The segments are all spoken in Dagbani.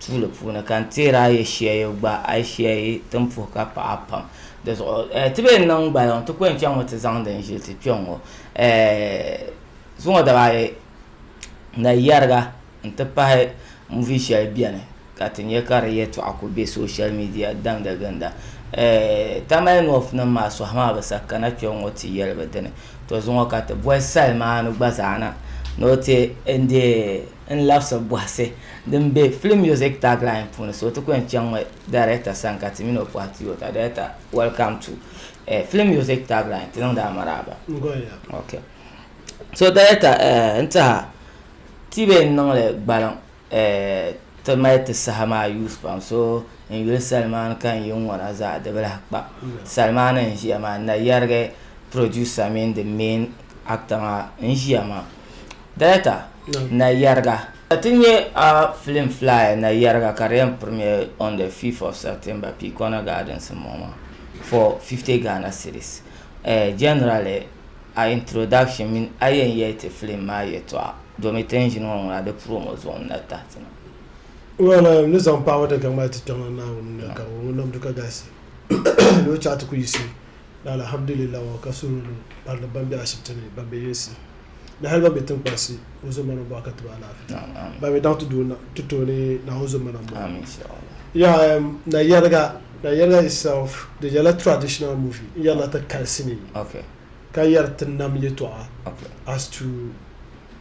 tuuli puuni ka n teeri a yi shia yi gba a yi shia yi tin puhi ka paɣa pam di zuɣu eh, ti bee niŋ gbaliŋ ti kɔŋ chaŋ ŋɔ ti zaŋ din ʒili ti kpɛŋ ŋɔ eh, zuŋɔ dabaayi na yɛriga n ti pahi muvi shɛli bɛni ka ti nyɛ ka di yɛtɔɣa ku bɛ social media damda ginda eh, tamale north nim maa sɔhi maa bi sa kana kpɛŋ ŋɔ ti yɛli bi dini to zuŋɔ ka ti boli sali maa ni gba zaa na ni o ti n deei n labsi bɔhisi din be Film Music Tagline puuni so ti ku yɛn chaŋ mi Director sani ka ti mini o pɔhi ti o ka Director Welcome to eh, Film Music Tagline ti niŋdi a maraaba okay. So Director eh, n tiha ti be n niŋli gbaliŋ eh, ti mali ti saha maa use pam so n yuli salimaani ka n yi ŋɔna zaa di bi lahi kpa salimaani n ʒiya maa n na yɛrigi Producer mini the main actor maa n ʒiya maa. Director na yɛriga ka ti nyɛ a film flyer na yɛriga ka di yɛn premiere on the 5th of September P Corner Gardens m bɔŋɔ maa for 50 Ghana cedis eh generally a introduction mini a yɛn yɛli ti film maa yɛtɔɣa domi ti ni ʒini ŋɔ ŋuna di promo zuɣu n na tahi ti na. Well eh n ni zaŋ paɣaba daga maa ti Kpiɔŋlan Naawuni ni ka o ŋun nam du ka galisi ni o chaɣa ti ku yiɣisi Di alahamdulillah ŋɔ ka soorinima barili ban be ashibiti ni ban be yinsi ni hali ban be tiŋkpansi ka o zo mana m-bɔhi ka ti ba alaafee ban mi daŋ ti tooni Naa o zo mana m-bɔhi yaha na yɛliga na yɛliga itself di nyɛla traditional movie n yɛrila ti kali sinii ka yɛri ti nam yɛtɔɣa as to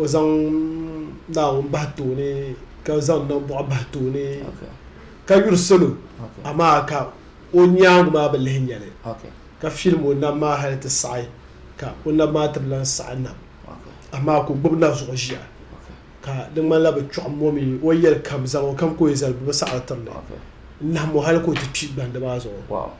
o zaŋ Naawuni bahi tooni ka zaŋ nambɔɣu bahi tooni ka yuri salo amaa ka o nyaanga maa bi lihi nyɛli ka filim o naba maa hali ti saɣi ka o naba maa ti bi lahi saɣi nam amaa ka o gbubi na zuɣu ʒiya ka di ŋmanila bi chɔɣim o mi o yɛlikam zaŋ o kam ka o yi zali bi bi saɣiri tiri li n-nahim o hali ka o ti kpi gbandi maa zuɣu.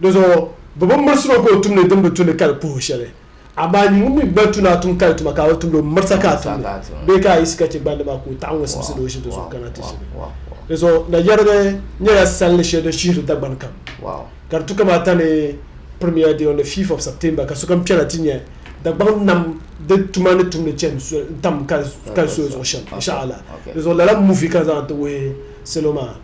Di zuɣu bɛ bi mirisi o ka o tumdi din bi tu ni ka di puhi o shɛli. Amaa nyin ŋun mi gba tu ni a tum kali tuma ka a bi tumdi o, mirisa ka a tumdi, bee ka a yiɣisi ka chɛ gbandi maa ka o taɣi ŋun simsi ni o ʒi di zuɣu kana ti ʒini. Di zuɣu na yɛrigi nyɛla salli shɛli din shihiri Dagbani kam, ka di tu kam ata ni Premier Day on the fifth of September ka sokam kpɛna ti nya Dagbaŋ nam di tuma ni tumdi chani tam kali soya zuɣu shɛm, insha Allah. Di zuɣu lala movie ka zaŋ ti wuhi salo maa.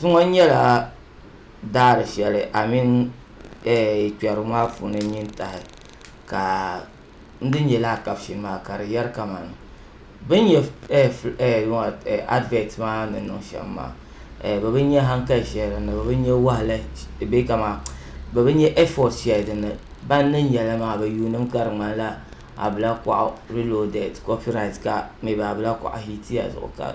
Zuŋɔ nyɛla daari shɛli amini kpɛrigu maa puuni n-nyin tahi ka n di nyɛ lala kapshin maa ka di yɛri kamani, bɛ ni nyɛ adivɛt maa ni niŋ shɛm maa bɛ bi nya hankali shɛli din ni, bɛ bi nya wahala bee kaman bɛ bi nya ɛfɔt shɛli din ni ban ni nya li maa bɛ yuundimi ka di ŋmanila Ablakɔɣu Reloaded, copyright ka maybe Ablakɔɣu hitiya zuɣu ka.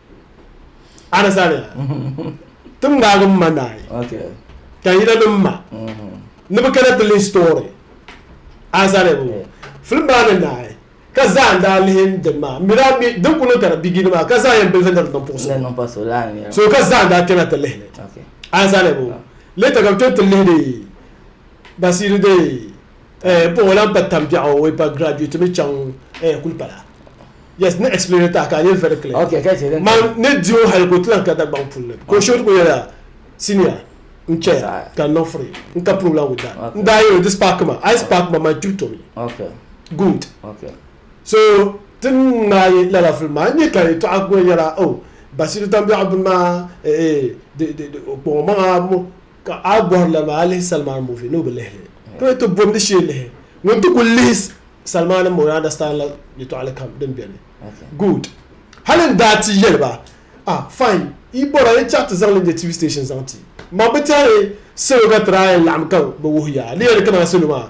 Anasaani ti ŋmaagi m ma naai ka yina ni m ma ni bɛ kana ti lihi story anasaani film maa ni naai ka zaa n daa lihi din maa m mi daa mi din kuli niŋ ka di bigini maa ka zaa yɛn bilifi niriba din puɣi so so ka zaa n daa kpɛna ti lihili anasaani later ka bɛ tom ti lihiri basiri de Eh, bɔŋɔ lan pa tam biɛɣu way pa graduate mi chaŋ eh kuli pala. Yes, ni explain ta ka a nyɛ very clear. Okay, ka chɛ Man ni di o hali ka o ti lan ka Dagbaŋ puli ni. Ka o short ko yɛla, Senior, n chaya ka n niŋ free. N ka problem with that. N daa yɛl o di spark ma. A yi spark ma, man kpib tomi. Okay. Good. Okay. So, ti ni ŋmaai lala film maa, n nya ka yɛtɔɣa gba nyɛla, oh, Basiru Tambiɛɣu bini maa, eh, eh, di, di, di, o kpaŋ o maŋa mo. Ka a bɔri lala maa a lihi Salman movie ni o bi lihili to yi ti bomdi shee lihi ŋun ti kuli lihi Salman n bɔŋɔ yaa understand la yɛtɔɣili kam din bɛni good hali n daa ti yɛli ba ah fine yi bɔra a yi chaɣi ti zaŋli nyɛ TV station zaŋ ti ma bi tɛhi salo ka ti daa yɛn laɣim ka bi wuhi yaa di yɛn ni kana salo maa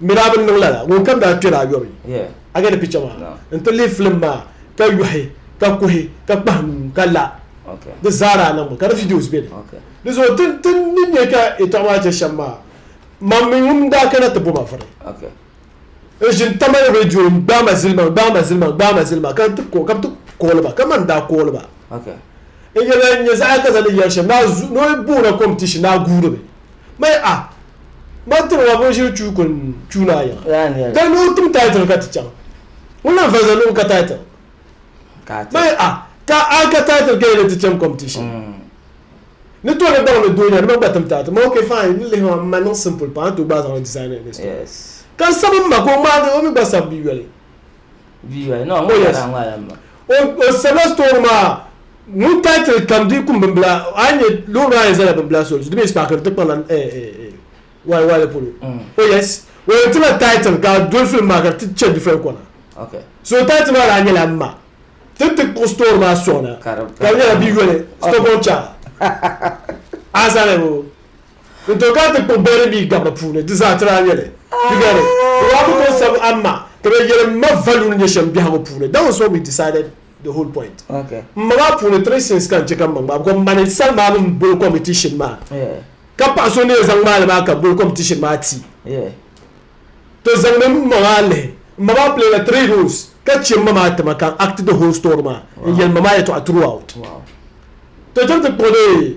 Mi daa bi niŋ lala, ŋunkam daa kpɛri ayɔbu, a gani picha maa, n-ti lihi filim maa ka yɔhi, ka kuhi, ka kpahi nuu, ka la. Di zaa daa niŋ mi, ka di videos beni. Di zuɣu ti ni nya ka yɛtɔɣa maa che shɛm maa, mam mi ŋun daa kana ti bo ma vuri, n-ʒini tamali radio ni, Gbaai ma zilima, gbaai ma zilima, gbaai ma zilima, ka ti ka bi ti kooli ba, ka man daa kooli ba. N-yɛli ya n-nya zaɣa ka zaŋdi yɛri shɛm, ni o booni a competition ni a guuri mi. Maya ah Mani tiri ma bin shiri chuu kuli chuu naa yiɣi Ka ni o tim title ka ti chaŋ Ŋun lan valiza luɣu ka title Maya ah Ka a ka title ka yi ni ti cham competition Ni to ni baŋ ni doo nya ni ma gba tim title Ma ok fine ni lihi ma ma niŋ simple pam a ni to gbaai zaŋli design in the store Ka n sabi m ma ka o ŋmaagi o mi gba sabi bɛ yoli. O sabila store maa ŋun title kam di kum bimbila a nyɛ low rise zala bimbila so di mini spark ti kpala why why le polo oh yes o yɛn tila title ka dol film maa ka ti chɛ different kɔna okay so title maa daa nyɛla ma ti ti kuɣu store maa sɔŋ na ka nyɛla bi yoli stockholm cha a sani o Di too ka ti kpuɣi bɛri mii gam bɛ puuni, di zaa ti daa nyɛli. Di gani, bɛ daa ku tooi sabi amma ka bɛ yɛli m ma value ni nyɛ shɛm biɛhigu puuni. That was what we decided the whole point. M ma maa puuni three sins ka n chɛ ka m ma ŋmaai because m ma ni sali maa mini m boli competition maa ka paɣa so ni yɛn zaŋ ŋmaai li maa ka boli competition maa ti to zaŋmi m ma maa lihi m ma maa play la three roles ka chɛ m ma maa ti ma ka n act the whole story maa n yɛli m ma maa yɛtɔɣa throughout to cham ti kpuɣi di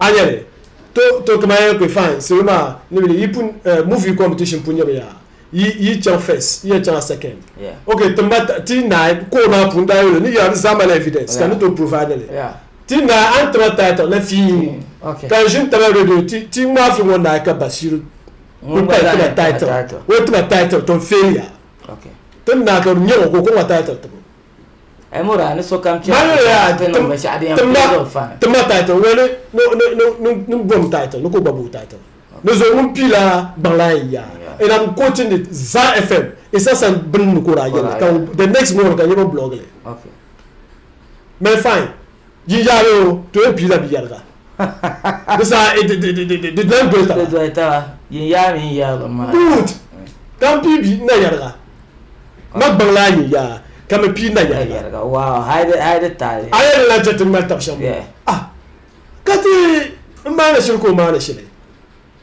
A nya li? To, to kaman ya kpe fine, salo maa ni mi ni yi pun, eh, movie competition pun nyɛmi yaa, yi, yi chaŋ first, yi ya chaŋ a second. Yeah. Okay, tim ma ta, ti naai, call maa puuni daa yoli, ni ya ni zahimala evidence, ka Yeah. ni tooi provide li. Yeah. Ti naai, a ni ti ma title la fiin, Fiin, okay. ka n ʒini taba radio, ti, ti ŋmaai fim ŋɔ naai ka Basiiru Ŋun kuli gba pali zaa ti ma ni ti ma title. title. O ni ti ma title, to n fail ya. Okay. Ti ni naai ka di nya o, ka o kɔŋ ma title tibu. tima title ŋɔ ni gom title ni ko gba bo title ni zo ŋun piila baŋla n ya and I'm quoting it Zaa FM Isa San bini ni ko daa yɛli ka the next morning ka nyɛba blog li mɛ fine jinjaa bee o to yɛn piila biyɛriga Di saa di doli doli taba. Di doli taba yin yaa mini yɛrilim maa. Good. Ka m pii bi na yɛriga. Ma gbaŋ laa yin yaa ka mi pii na yɛriga. Wow hali di taali. A yɛn lan chɛ ti ŋmali tab shɛm ŋɔ? Ah! Ka ti n maani shili ka o maani shili.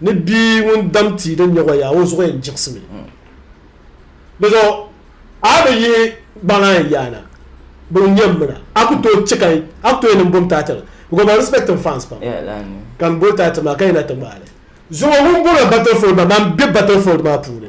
ni bia ŋun dam tia din nyɛ wayaa o zuɣu yɛn jiɣisimi di zuɣu a bi yihi gbaŋ a yaana bi n yɛn mina a ku tooi chɛ ka a ku tooi niŋ bom taati la because I respect him fans pam ka n boli taati maa ka yina ti ŋmaali zuŋo ŋun boli battlefield maa maa n bɛ battlefield maa puuni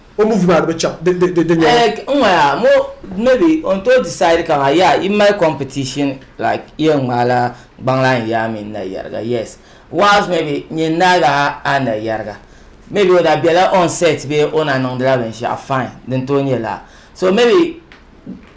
o movie maa di bi chaŋ di di di nyɛla. Like n ŋɔ yaa mo maybe o ni tooi decide ka maa yaa yi mali competition like yi yɛn ŋmaai la gbaŋlaa n yaa mini na yariga yes whilst maybe nyini naa ga a na yariga maybe o na bɛla on set bee o na niŋdila binshɛɣu fine din tooi nyɛ laa so maybe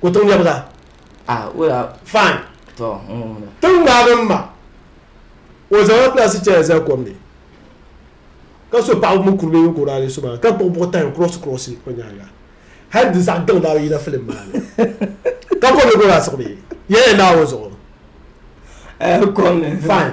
ko tiŋ nyɛbu zaa ah wala fine to tiŋ maa bin ma o zaŋla plastic chair zali kom ni ka so paɣaba mini kurili yinko daa so maa ka kpuɣi buɣi tahi cross cross o nyaanga hali di zaɣ gaŋ daa yina filim maa ni ka kom ni ko daa siɣi mi yɛla naawuni zuɣu eh, kom ni fine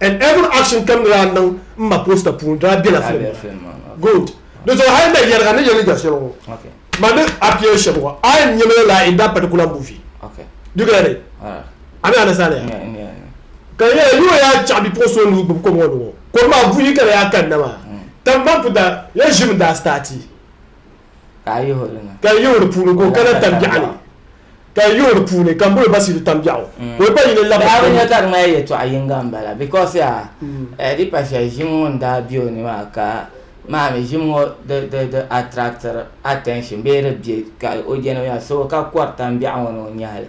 and every action kam ni daa niŋ m ma poster puuni daa bela film maa ni good di zuɣu hali na yɛliga ni yɛli ni jɛsiri ŋɔ ma ni appear shɛb ŋɔ I am nyamila laa in that particular movie do you get it a ni understand ya ka di nyɛla yoo yaa chaɣi bipuɣin so nuu gbubi kom ŋɔ ni ŋɔ kom maa buyi ka di yaa kanna maa tankpaŋ puta ya ʒimi daa start Ka a yihi o di ni. Ka a yihi o di puuni ka o kana tambiɛɣu ni. Ka a yihi o di puuni ka m boli Basiidu tambiɛɣu ka o gba yina labiri. Daa bi nya ka di mali yɛltɔɣ yiŋga m-bala bikos yaa di pa shɛli ʒim ŋun daa be o ni maa ka maa mi ʒim ŋɔ di attractiri attention bee di be ka o jɛni o nya so ka kɔri tambiɛɣu ŋɔ ni o nyahi li.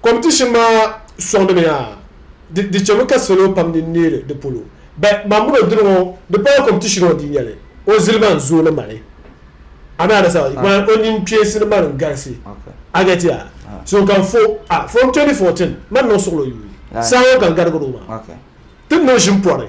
Competition maa sɔŋdimi yaa di chemi ka salo pam din neeri di polo but man mini o diri ŋɔ di pala competition ɔ dii nyɛli o zilima n zooi ni mali a mi understand man o nyin kpeesi ni mali n galisi a get ya so ka fo a from 2014 man niŋ suɣilo yuui saa ŋɔ ka n garigiri o maa ti ni o ʒin pɔri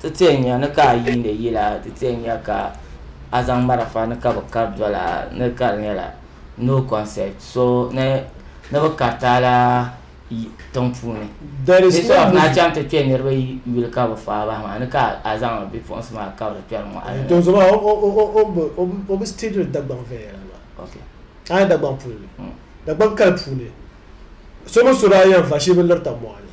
Ti ti n nya ni ka a yiindi yila, ti ti n nya ka a zaŋ marafa ni ka bi kari doli a ni ka di nyɛla no concept so ni ni bi kariti a la tiŋ puuni. Bɛ so of na chaŋ ti kpe niriba yuli ka bi faai bahi maa ni ka a zaŋ bipuɣinsi maa kabiri kpɛri mɔɣili ni. Don so maa o bi stidiri Dagbaŋ viɛnyɛla maa. A nya Dagbaŋ puli ni, Dagbaŋ kali puuni so mini so daa yɛn va shee bi lirita mɔɣu ni.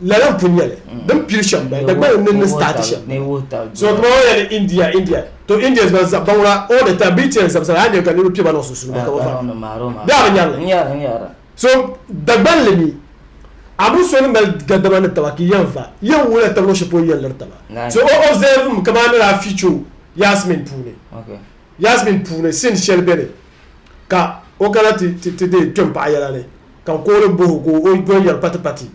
lala n pun nyɛli mm. din pili shɛm bali dagbani ni ni staati shɛm so tuma o yɛli india india to india ban zaɣ baŋla o de ta bi tiɛn zabisara a nyɛ ka niriba piɛba niŋ sunsuuni ka ba bɛ a bi nyɛrili so dagbani li mi a bi so ni mali gadama ni taba ki yɛn va yɛn wula taba ni o shɛpo yɛn liri taba so o observe mi ka maa ni daa ficho yasmin puuni yasmin puuni sin shɛli bɛ ni ka o kana ti ti de kpɛm paɣa yɛla ni Ka n koori m bohi o ka o doli yɛri patipati,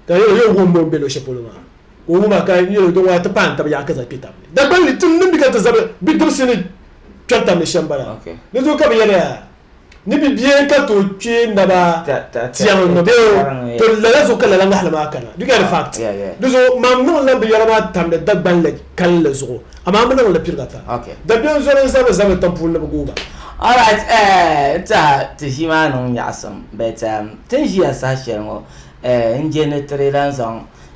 ka n yɛli o wum o ni be luɣ'shɛli polo maa, ka o wum a, ka n yɛli o din ŋɔna ti paai n tab yaɣa ka zaŋ kpe tab ni. Dagbanli tim ni bɛ ka ti zabi bidibisi ni kpɛri tab ni shɛm bala. Di zuɣu ka bɛ yɛli a ni bi bie ka tooi kpee naba tiɛŋ ni bɛ o to lala zuɣu ka lala ŋahili maa kana. Do you get the fact? Di zuɣu mam niŋ la binyɛra maa tamdi Dagbanli kalinli zuɣu Amaa mi niŋ li piriga ta. Dabiɛm zoli n zabiri zabiri tam puuni ni bi guuga. Alright eh ta ti ʒii maa niŋ nyaɣisim but ehm ti ni ʒiya saha shɛli ŋɔ eh n je ni ti di lan zaŋ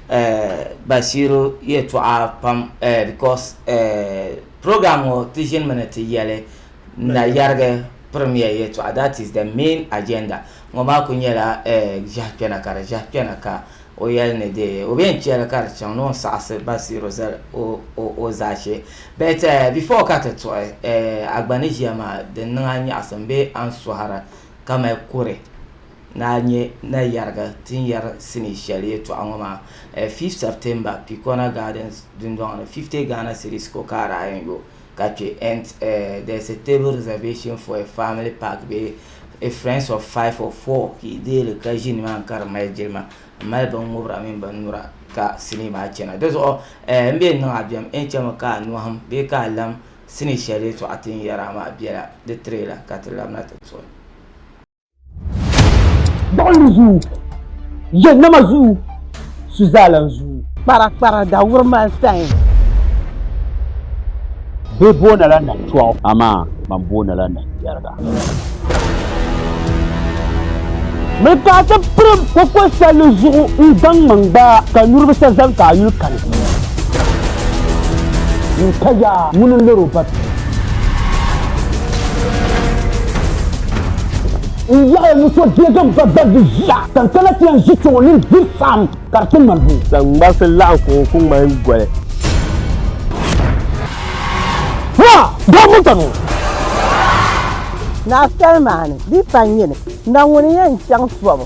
eh Bashiru yɛltɔɣa pam eh because eh program ŋɔ ti ʒini mi ni ti yɛli. n na yɛrigi pirimiya yɛtɔɣa, that is the main agenda, ŋɔ maa kuli nyɛla ʒiɛhi kpɛna ka di ʒiɛhi kpɛna ka o yɛli ni dee o bee n chɛli ka di chaŋ ni o ni saɣisi Basiiru zali o zaashee. But before ka ti tuɣi Agbani ʒiya maa din niŋ a nyaɣisim bee a ni sɔhira ka mali kuri ni a nyɛ na yɛrigi ti ni yɛri sinii shɛli yɛtɔɣa ŋɔ maa 5th September Pikona Gardens dundɔŋ ni 50 Ghana cedis ko ka a daa yɛn yo. ka chɛ ent eh, there is a table reservation for a family pack bee a friends of five or four ka yi deei li ka ʒi ni maa ni ka di mali jilima m mali bin ŋubira mini bin nura ka sinii maa chana di zuɣu eh m bee niŋ a bɛm en chɛmi ka a nɔhim bee ka a lam sinii shɛli yɛltɔɣa ti ni yɛri a maa bela di tiri la ka ti labina ti tɔhi. Gbuɣinli zuu, yɛ nama zuu, su zaalan zuu. Kpara kpara da wuri man sayin. Bɛ boona la na tɔɣu, amaa man boona la na yɛriga. Mi ka a ti pirim koko sali zuɣu n zaŋ ma n gbaa ka niriba sa zani ka a yuli kani. N ka yaa ŋuni n lori o babi. n yaɣi muso deegi ba gbaribu ʒiya ka n kana ti yɛn ʒi kpɛŋɔ ni n diri saɣim ka di ti ŋmani buu. Zaŋ ŋmarisi laɣim ka o ku ŋmani goli. Ha! Doo buta nuu! Naa Salmani, di pa nyini, na ŋuni n-yɛn chaŋ tɔbu?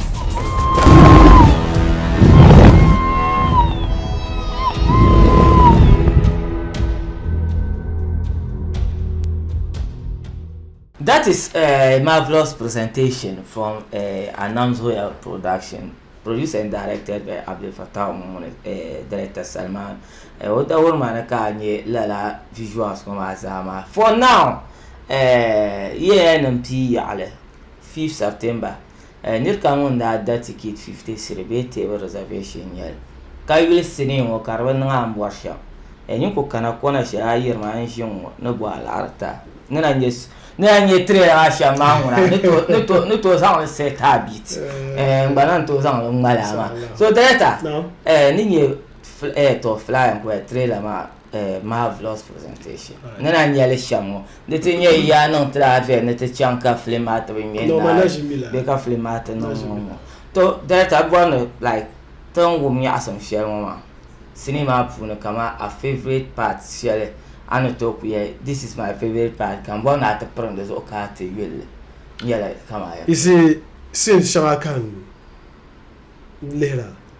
That is a marvelous presentation from uh, eh, Anam's Royal Production, produced and directed by Abdel Fattah Momoune, uh, eh, director Salman. Eh, o da wuri maa ni ka nye lala visuals ŋɔ maa zaa maa. For now, uh, yeya nim pii yaɣali 5 September Nir kam ŋun daa da tikit 50 cedi bee table reservation n-nyɛli, ka yuli sinii ŋɔ ka di bi niŋ a ni bɔri shɛm. Nyin ku kana kɔna shɛli a yiri ma n-ʒi n ŋɔ ni bɔ alaɣiri ta. Ni na nyɛ so ni na nyɛ trailer maa shɛm maa ŋuna ni tooi ni tooi zaŋ li set a beat n gba na n-tooi zaŋ li ŋmali a maa. So Director, ni nyɛ fl eh tɔ flyer n-kuli trailer maa. eh, marvelous presentation ni na nyɛli shɛm ŋɔ di ti nyɛ yaa niŋ tilaafia ni ti chaŋ ka filim maa ti bi ŋmɛ No, ma na ʒimi la. bɛ ka filim maa ti niŋ ŋɔ ŋɔ to director bɔri ni like ti ni wum nyaɣisim shɛli ŋɔ maa sinii maa puuni kama a favourite part shɛli a ni tooi ku yɛli this is my favourite part kam bɔri ni a ti pirim di zuɣu ka a ti yulli n yɛla kama ya You see, sin shɛŋa ka n lihira.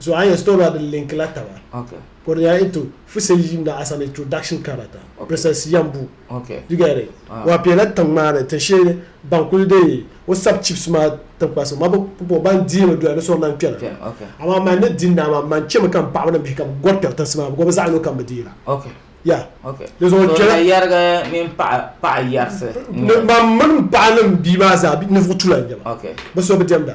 So a yɛn sitɔri din linki la taba ka o di nyɛla into fusel yim na as an introduction character process yambu you get it ah. wa piɛla tiŋ maa ni tin shee ban kuli dee o sab chips maa tinkpa so ma bi pupo ban dii mi doya ni sɔri nan kpɛna amaa man ni din naa maa man chɛmi kam paɣaba ni bihi kam gɔri kpɛri tinsi maa gɔbi zaɣi lo kam bi deela ya di zuɣu kpɛla yɛrigi mini paɣa paɣa yɛrisi man mini paɣa ni bia maa zaa ninvuɣu tula n nyɛba bi so bi diɛmda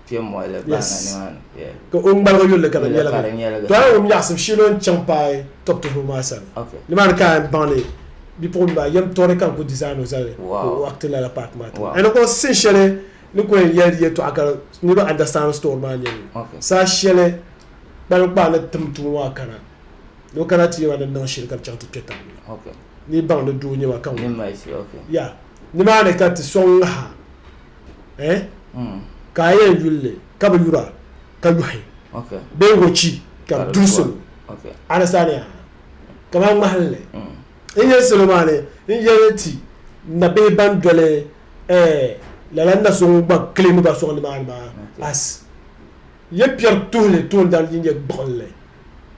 kpɛ moɣali baana nimaani ka o ŋmaligi yulli ka di nyɛligi to a yɛn wum yaɣasim shee ni o ni chaŋ paai tɔbu tuhibu maa sani nimaani ka a yɛn baŋdi bipuɣunbili maa yɛm tɔri ka n ku dizaani o zali ka o akti lala paati maa tiŋa and ko sin shɛli ni ku yɛn yɛli yɛltɔɣa ka niraba andastandi story maa nyɛli saha shɛli kpalim kpaa ni tim tuma maa kana ni o kana ti yɛma ni niŋ shili ka bi chaŋ ti kpɛ tabi ni baŋdi doo nyɛma ka ŋun ya nimaani ka ti soŋ ŋaha eh? Hmm. ka a yɛn yulli ka bi yura ka yɔhi bee wɔchi ka bi duri salo anasaani a kamani ŋmahinli hmm. n yɛn salo maa ni n yɛli ti nabihi ban doli eh, lala na so ŋun gba kilimi ba sɔŋ nimaani maa as yɛ piɛri tuhili toondana din nyɛ gbuɣinli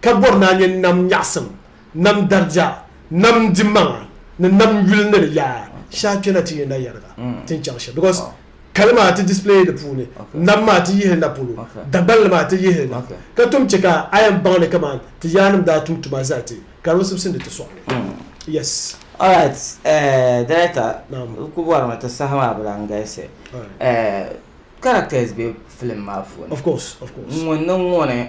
ka bɔri ni a nya nam nyaɣisim, nam darija, nam dimaŋa ni nam yuli ni di yaa shɛhi kpe na ti yɛn na yɛriga tin chaŋ shɛm because kali maa ti display di puuni, nam maa ti yihili na polo, Dagbanli maa ti yihili na ka tom chɛ ka a yɛn baŋ ni kaman ti yaannim daa tum tuma zali ti ka di bi sibisindi ti sɔɣili. Yes. Alright, eh, Director, n ku bɔri mi ti saha maa bi lan galisi. Eh, characters be film maa puuni. Of course, of course. Ŋun ni ŋuni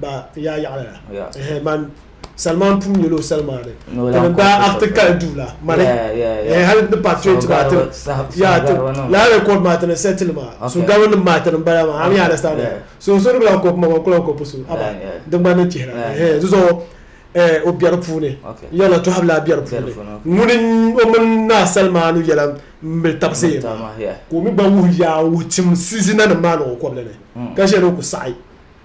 ba yaa yaɣili la yeah. eh, man Salman pum nyɛla o Salman ni daa akti kali duu la mali eh, hali ni patriot maa ti yaa ti laa record maa ti ni settle maa so gabi nim maa ti ni bala maa am yaa understand so so ni bila ko kuma kula ko pusu aba di gba ni chihira eh so eh o biɛri puuni yɛla to habla biɛri puuni ŋuni o mini naa Salman yɛla mbil tabsi yɛ ko mi gba wuhi yaa wuhi tim sizina nim maa ni o kɔbli ni ka shɛli ku saɣi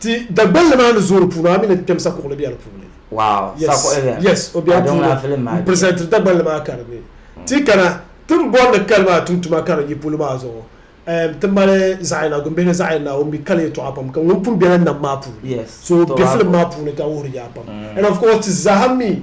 Ti Dagbanli maa ni zooi puuni a mi ni Temsa Kugli be di puuni. Wow, yes, Sako Elia. Yes, o be di puuni. N presentiri Dagbanli maa ka di mi. Ti kana ti ni bɔri ni kali maa tum tuma ka di yi polo maa zuɣu ehm ti mali zaɣ'yina gumbihi ni zaɣ'yina o mi kali yɛltɔɣa pam ka ŋun pun bela nam maa puuni. Yes, so o be film maa puuni ka wuhiri yaa pam and of course ti zaa ha mi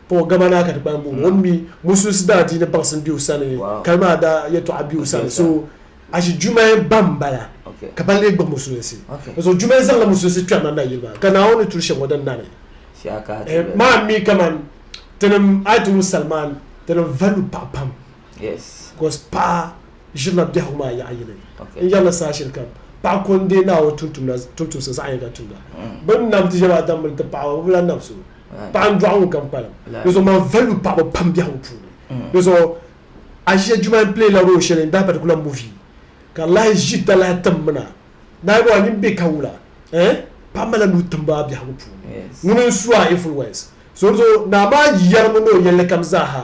Paul gama naa ka ti kpalim booni o mi musulisi daa diini baŋsim be o sani kali maa daa yɛtɔɣa be o sani so ashi Jumaye ba m-bala ka ba lee gbubi musulinsi di zuɣu Jumaye zaŋla musulinsi kpɛrina nayili maa ka Naawuni ni turi shɛm ŋɔ din nani maa mi kaman tinim a ti wum salimaan tinim valibu paɣa pam bicos paɣa ʒirila biɛhigu maa yaɣa yini n-yɛrila saha shɛli kam paɣa ko n-deei Naawuni tumtumda tumtumsi zaɣ yinga tumda bɛ ni nam ti yɛm Adam mini ti paɣaba bɛ bi lahi nam so Paɣa n dɔɣi ŋun kam kpalim di zuɣu man value paɣaba pam biɛhigu puuni di zuɣu Asia Juma n play la role shɛli in that particular movie ka lahi ʒi dalahi tim mina naai bɔŋɔ a nini bɛ ka wula eh paɣa mali la nuu timbu a biɛhigu puuni ŋuni n su a influence so di zuɣu naa maa yɛrimi ni o yɛlli kam zaa ha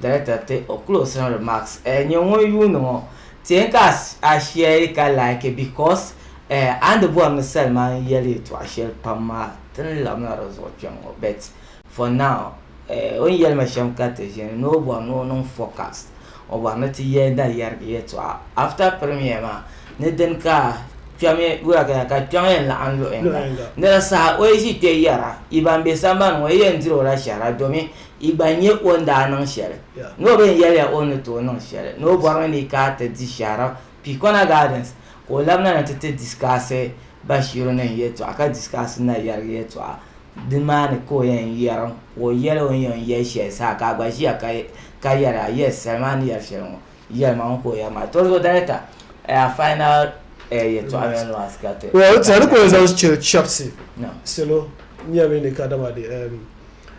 Director ti o closing remarks eh nyɛ ŋun yuuni ŋɔ tiyɛn ka a share ka like because eh a ni bɔri ni salima n yɛli yɛtɔɣa shɛli pam maa ti ni labina di zuɣu kpɛm ŋɔ but for now eh o ni yɛli ma shɛm ka ti ʒini ni o bɔri ni o niŋ forecast o bɔri ni ti yɛli na yɛrigi yɛtɔɣa after premier maa ni dini ka kpɛmi wuragaya ka kpɛŋ yɛn laɣim luɣi yinga ni di saha o yi ʒi kpɛ yɛra yi ban bɛ sambani ŋɔ yi yɛn diri o la shɛhira domin Yi gba nya o ni daa niŋ shɛli ni o bɛn yɛli ya o ni tooi niŋ shɛli ni o bɔri mi ni ka ti di shɛhira Pihikɔna Gardens ka o labina ni ti ti disikaasi Bashiru nim yɛltɔɣa ka disikaasi Nayariga yɛltɔɣa di maa ni ka o yɛn yɛrim ka o yɛli o ni yɛn yɛli shɛli saha ka a gba ʒiya ka yɛli a yes sali maa ni yɛri shɛli ŋɔ yɛlima ŋɔ ka o yɛri maa Torizo Director a final yɛltɔɣa mini last ka ti Well, tɛha ni ka o yɛn zaŋ chɛri chɛbisi salo nyami ni kadama di.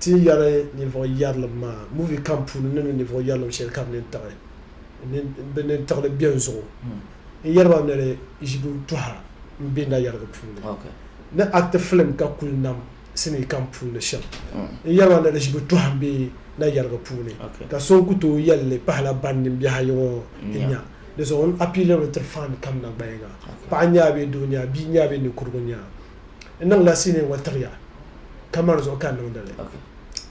Ti ni yɛri ninvuɣ yɛrilim maa, movie kam puuni ni mi ninvuɣ yɛrilim shɛli ka bɛ ni tiɣili bɛn zuɣu n yɛri ba ni di ʒibu tɔha m be nayɛrigi puuni. Ni acti filim ka kul nam sinii kam puuni shɛm n yɛri ba ni di ʒibu tɔha m be nayɛrigi puuni ka so n ku tooi yɛli li pahila ban nimbɛha yiŋɔ n nya. Di zuɣu n appealiri li tiri fan kam nagbaya ŋa, paɣa n-nyɛ a bee doo n-nyɛ a, bia n-nyɛ a bee ninkurigu n-nyɛ a, N niŋla sinii ŋɔ tiɣi ya kamani zuɣu ka n niŋdi li.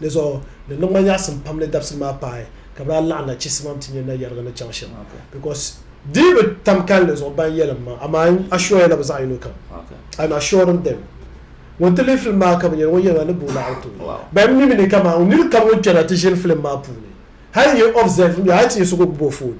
Di zuɣu di niŋ ma nyaɣisim pam ni dabisili maa paai ka bɛ daa laɣim na chisimam ti nyɛ nayariga ni chaŋ shɛm because di bi tam kalinli zuɣu ban yɛlim ma amaa n assure ya la bɛ zaɣiyino kam I am assuring them ŋun ti lihi film maa ka bi nyɛli ŋun yɛli ma ni boo naɣiri tooi bahi m mimi ni kaman nir kam ŋun kpɛna ti ʒini film maa puuni hali n yi observe mi hali ti nyɛ so ka o gbubi o phone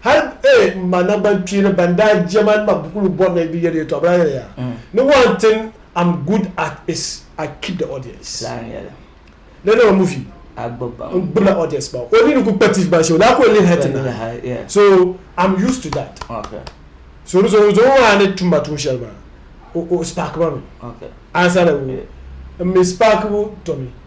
Hal A m ma naŋgbankpeeni ban daa je ma ni ma buku lu bɔri na bi yɛli yɛtɔɣ bɛla yɛli ya ni one thing am good at is I keep the audience. Laa n yɛli. Lala o ni muvi. A gbib ba. N gbibla audience ba. O nini kul kpa TV maa shee o daa kul lihi hal ti nahi. So am used to that. So di zuɣu zuɣu maa ni tum ma tuun shɛli maa o spark ma mi. Answer the o mi spark bu Tommy.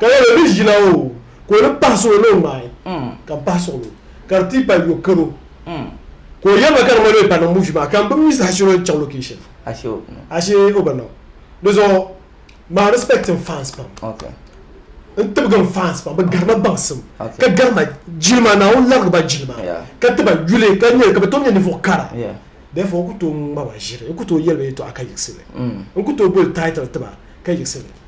Ka lala mi ʒila o, ka o ni pahi suɣulo ni o ŋmaai, ka m-pahi suɣulo, ka di ti pali yo karo. Ka o yɛli ma ka di ŋmanimi pa niŋ muuvi maa, ka m bi mi saha shɛli o ni chaŋ location. Ashe o bi niŋ. Di zuɣu maa respect n fans pam. N tibigi n fans pam, bɛ garima baŋsim, ka garima jilima, Naawuni larigi ba jilima, ka ti ba yuli, ka nyɛ, ka bɛ tom nyɛ ninvuɣ kara. Therefore n ku tooi ŋma ba ʒiri, n ku tooi yɛli ba yɛtɔɣa ka yiɣisi li. N ku tooi boli title ti ba ka yiɣisi li.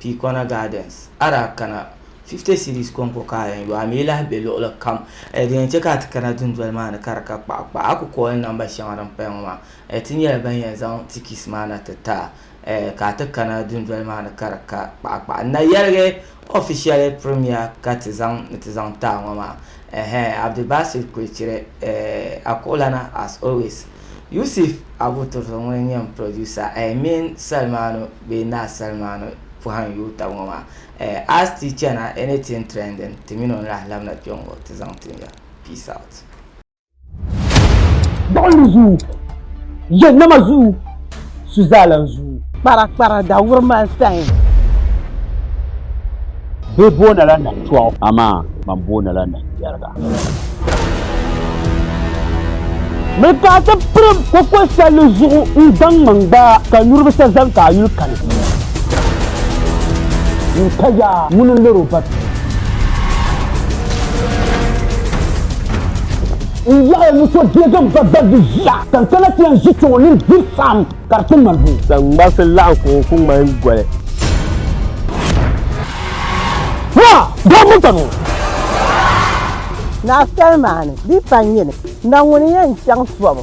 Pii Corner Gardens, a daa kana 50 cedis kɔŋko ka a yɛn yo, a mi lahi be luɣili kam. Di yɛn chɛ ka a ti kana dundoli maa ni ka di ka kpaɣa kpaɣa. A ku kooi namba shɛŋa din paya ŋɔ maa. Ti nyɛla ban yɛn zaŋ tikis maa na ti ti a ka a ti kana dundoli maa ni ka di ka kpaɣa kpaɣa. N na yɛligi official premier ka ti zaŋ ni ti zaŋ ti a ŋɔ maa. Abdulbasir Kwechire, Akuɣulana as always. Yusif Abutursu ŋun nyɛm producer eh min Salmanu bee Naa Salmanu pɔhim yuui tab ŋɔ maa eh as ti chana anything trending ti min o ni lahi labina kpe ŋɔ ti zaŋ tin ya. Peace out. Gbuɣinli zuu, jahannama zuu. su zaa lan zuui. Kpara kpara da wuri ma n sayin. Bɛ booni la nam tɔɣu. Amaa man booni la nam yɛriga. Miri ka a ti pirim koko salli zuɣu n gbaŋ man gbaa ka nyuri bi sa zani ka a yuli kani. N ka yaa ŋuni n lori o ba bia. N yaɣiya ni so deegi n ba gbaligu ʒiya, ka n kana ti yɛn ʒi kpɛŋɔ nini diri saɣim ka di ti maligu. Saŋmarisi laɣim kuɣu ku ŋmahin goli. Naa! Daa manta ni o! Naa Salima ni di pa n yini, na ŋuni n yɛn chaŋ tɔbu?